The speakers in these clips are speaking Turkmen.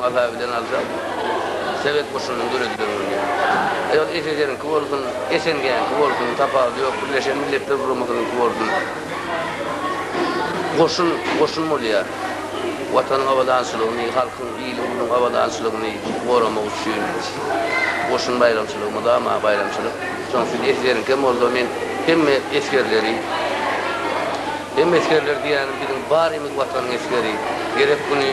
Mazaly bilen aljak sowet goşunynyň döredilen güni. Aýal SSR-niňki bolsun, SNG-niňki bolsun, tapawudy ýok, Birleşen Milletler Guramasynyňky bolsun, goşun goşun bolýar. Watanyň abadançylygyny, halkyň, iliň, uluň abadançylygyny goramak üçin goşun baýramçylygy mydama baýramçylyk. Şonuň üçin SSR-niňki hem bolsa men hemme esgerleri, Hem esgerler diýýänim biziň barymiz watanyň esgeri. Gerek güni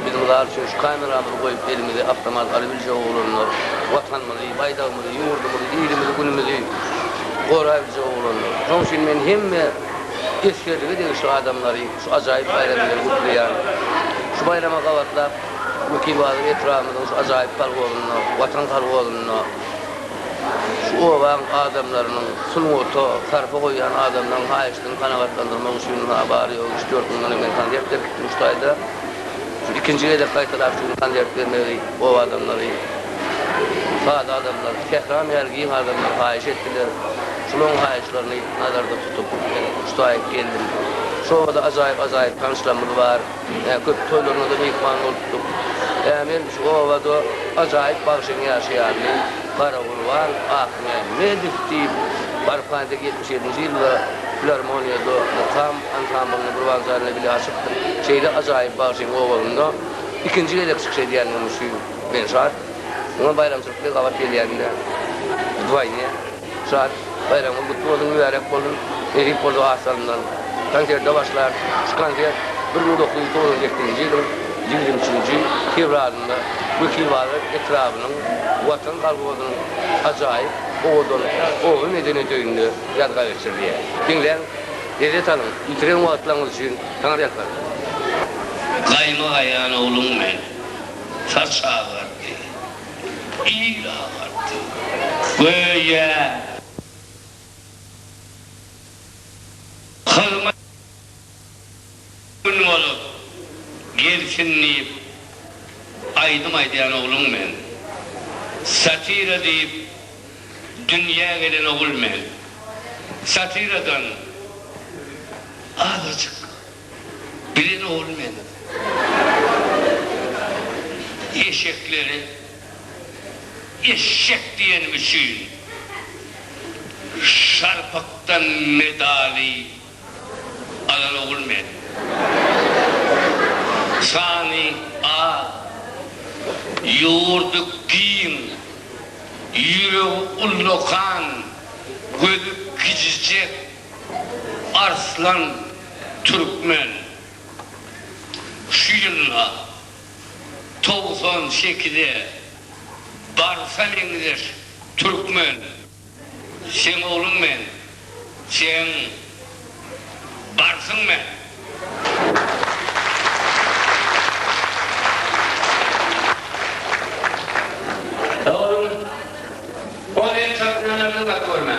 biziň zat üçin şu kameramyzy goýup elimize awtomat alybiljek oglanlar, watanymyzy, baýdagymyzy, ýurdumyzy, ilimizi, günümizi goraýbiljek oglanlar. Şoň üçin men hemme esgerlige degişli adamlary şu ajaýyp baýram bilen gutlaýan. Şu baýrama gabatlap Wekilbazar etrabymyzyň şu ajaýyp kolhozynda, Watan kolhozynda, Şu obaň adamlarynyň sungata sarpa goýýan adamlaryň haýyşdyny kanagatlandyrmak üçin ha bary-ýogy üç-dört gün mundan men konsert berip gitdim şu taýda. Şu ikinji gezek gaýtalap şu gün konsert bermegi oba adamlary, sada adamlar, sähram ýaly giň adamlar haýyş etdiler. Şularyň haýyşlaryny nazarda tutup men şu taýy geldim. Şu obada ajaýyp-ajaýyp tanyşlarymyz bar. Ä köp toýlaryňyza myhman bolupdyk. Ä men şu obada ajaýyp bagşyň ýaşaýanyny, Garagurban Ahmämmedow diýip, barpaýda ýetmiş ýedinji ýylda filarmoniýada mukam ansamblyny bir wagt janyna bile açypdyk. Şeýle ajaýyp bagşyň obasynda ikinji gezek çykyş edýändigim üçin men şat. Muňa baýramçylyk diýip gabat gelýände wdwoýne. Şad, baýramyňyz gutly bolsun, mübärek bolsun! Nesip bolsa az salymdan konserte başlarys. Şu konsert bir müň dokuz ýüz togsan sekizinji ýylyň ýigrimi üçünji fewralynda Wekilbazar etrabynyň Watan kolhozynyň ajaýyp owadan Ogry medeniýet öýünde ýazga geçirilýär. Diňläň, lezzet alyň, ýitiren wagtlaryňyz üçin saňa ýalkardym. Gaýma aýan ogluň men, saç agardy. Il agardy, göýä. Hyzmat gün bolup gelsin diýip aýdym aýdýan ogluň men. Satira diýip dünýä gelen ogul men. Satiradan azajyk. Bilen ogul meniň. Eşekleri eşşek diýenim üçin şarpykdan medaly alan ogul meniň. Sany az, ýurdy giň, ýüregi ullakan, gözi kijijek Arslan Türkmen şu ýylda togsan sekide barsa meňzeş Türkmen seň ogluň men seň barsyň men ogluň ol ençe ömrüne zynnak görme.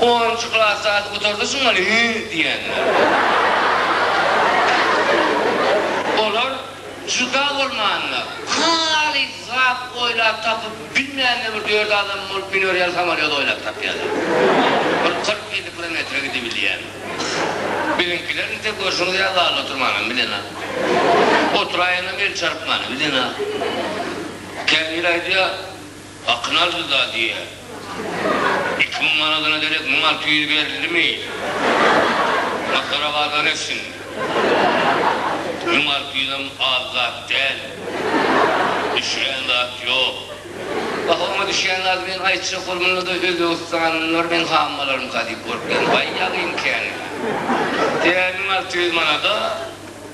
Onunjy klas zady gutardy şuňa ne diýenler. Olar juda bolmanda, halys zat oýlap tapyp bilmände bir dört adam bolup miner ýaly samolýot oýlap tapýarlar. Bir kyrk-elli kilometre gidibilýän. Biziňkiler nite görşüňiz ýaly zalda oturmanam bilenok. Oturaýanam el çarpmany bilenok. Käbiri aýdýar. Hakyny aldy da diýýär. Iki müň manadyna derek müň alty ýüz berildimi? Masgara gazan etsin. Müň alty ýüzem az zat däl. Düşýän zat ýok. Baharyma düşýän zady men aýtjak bolganda-da özbegistanlylar meň hammalaryňka diýip görüp bilen. Waý ýagyň käni. Tä müň alty ýüz manada,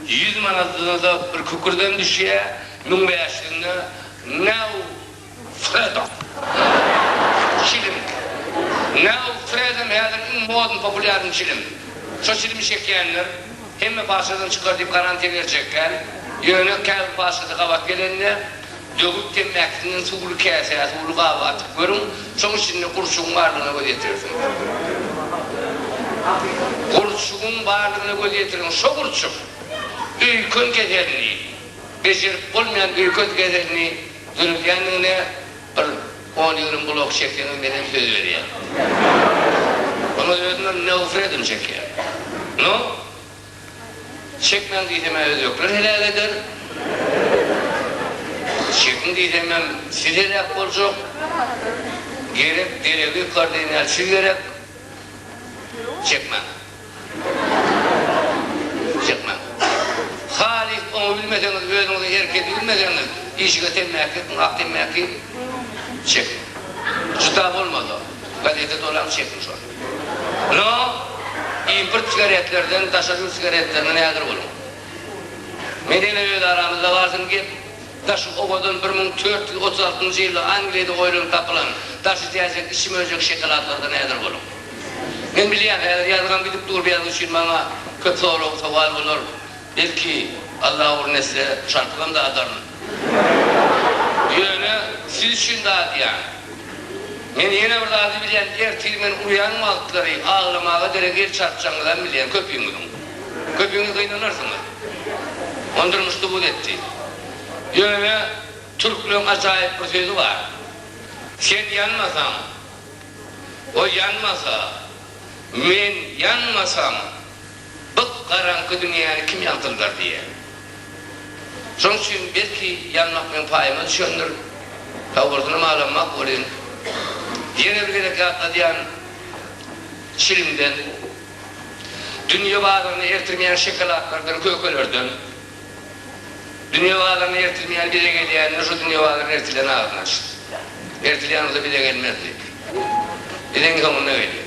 ýüz manadyna-da bir kükürdem düşýä, müň bäş ýüzüne, näu! Fredo. Çilim. Now Fredo häzir iň modny populýarny çilim. Şo çilimi çekýänler hemme paçadan çykar diýip garantiýa berjek däl. Ýöne käbir paçasy gabat gelende döwük temmäkisinden suwly käsä, suwly gaba atyp görüň. Şoň içinde gurçugyň barlygyna göz ýetirersiňiz. Gurçugyň barlygyna göz ýetiriň. Şo gurçuk öýken keselini, Bejerip bolmaýan öýket gezegini döredýändigiňde bir on ýigrimi blok çekseňem menden söz berýän. Onda özümem nofredim çekýän. No. Çekmäň diýsemä özbekler heläk eder. Çekiň diýsemem siz heläk boljak. Gerek deregi kardinalçy gerek. Çekmäň. Çykmaň. Halys oňa bilmeseňiz, özüňizi herkese bilmeseňiz, işige temmäki ýakyň, ak temmäki çekiň. Juda bolmasa, gazete dolaň, çekiň şony. No, import sigaretlerden, daşary ýurt sigaretlerinden häzir boluň. Meniň öz aramyzda bar şol gep. Daşy owadan bir müň dört ýüz otuz altynjy ýylda Angliýada oýlanyp tapylan daşy jäjek içi möjek şokoladlardan häzir boluň. Men bilýän, häzir ýazgam gidip dur bäri üçin maňa köp sorag, sowal bolar. Belki, Alla ugruna etse, şarpygam dadaryn. Ýöne siz üçin dadýan. Men ýene bir zady bilýän, ertir men urýan wagtlary aglamaga derek el çarpjagyňyzam bilýän, köpüňiziň. Köpiňiz gynanarsyňyz. Ony durmuşda buz etdi. Ýöne türkleriň ajaýyp bir sözi bar. Sen ýanmasaň, ol ýanmasa, men ýanmasam, gyp-garaňky dünýäni kim ýagtyldar diýýär. Şonuň üçin belki ýanmak meň paýyma düşendir. Sagbolsunam alanmak welin, ýene bir gezek ýatladýan çilimden. Dünýe bazaryna ertirmeýän şokoladlardan, kökelerden, dünýe bazaryna ertirmeýän bize gelýänini şu dünýe bazaryna ertilen agzyny açdy. Ertilýän bolsa bize gelmezdi. Bize iň soňunda gelýär.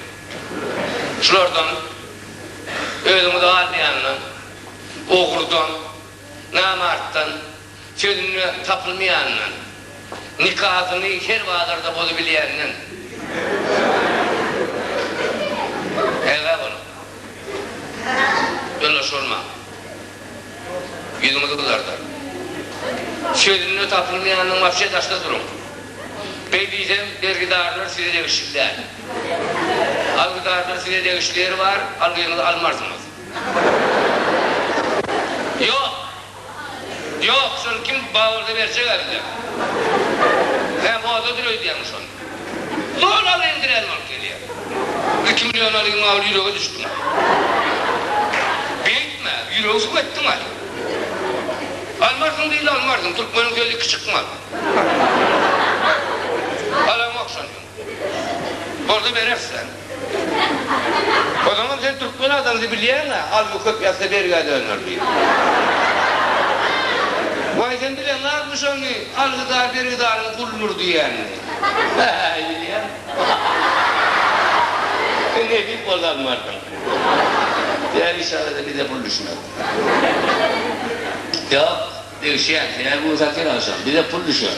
Şulardan özüňizi galmaýanyna, ogrdan, namartdan, Sözünde tapylmaýandan, nikasyny her bazarda bozubilýänden ägä boluň. Ýoldaş bolmaň. Ýüzüňizi gyzardar. Sözünde tapylmaýandan wapşe daşda duruň. Beý diýsem, bergidarlar size degişli däl. Algydarlar size degişli ýeri bar, algyňyzy almarsyňyz. Ýok! Ýok, şony kim baburda berjek älde? Hä, modadyr öýdýäňmi şony? Zol al, endiräli bolup gelýä. Iki million alyň, mawy ýürege düşdüň. Beýtme, ýüregi suw etdiň-aý. Almarsyň diýdi, almarsyň, türkmeniň sözi iki çykmaz. Alaňok şony. Bolsa berersem. O zaman sen türkmen adamdy bilýäňä, almy köp ýatsa bergä döner diýip. Waý sen bileňarmy şony, algydar bergidaryň guludyr diýýänini. Bäý bilýän. Sen nebit bol almardyň. Ýa işarada bize pul düşmez. Ýok, degişýän. Senä gün satyň agşam. Bize pul düşer.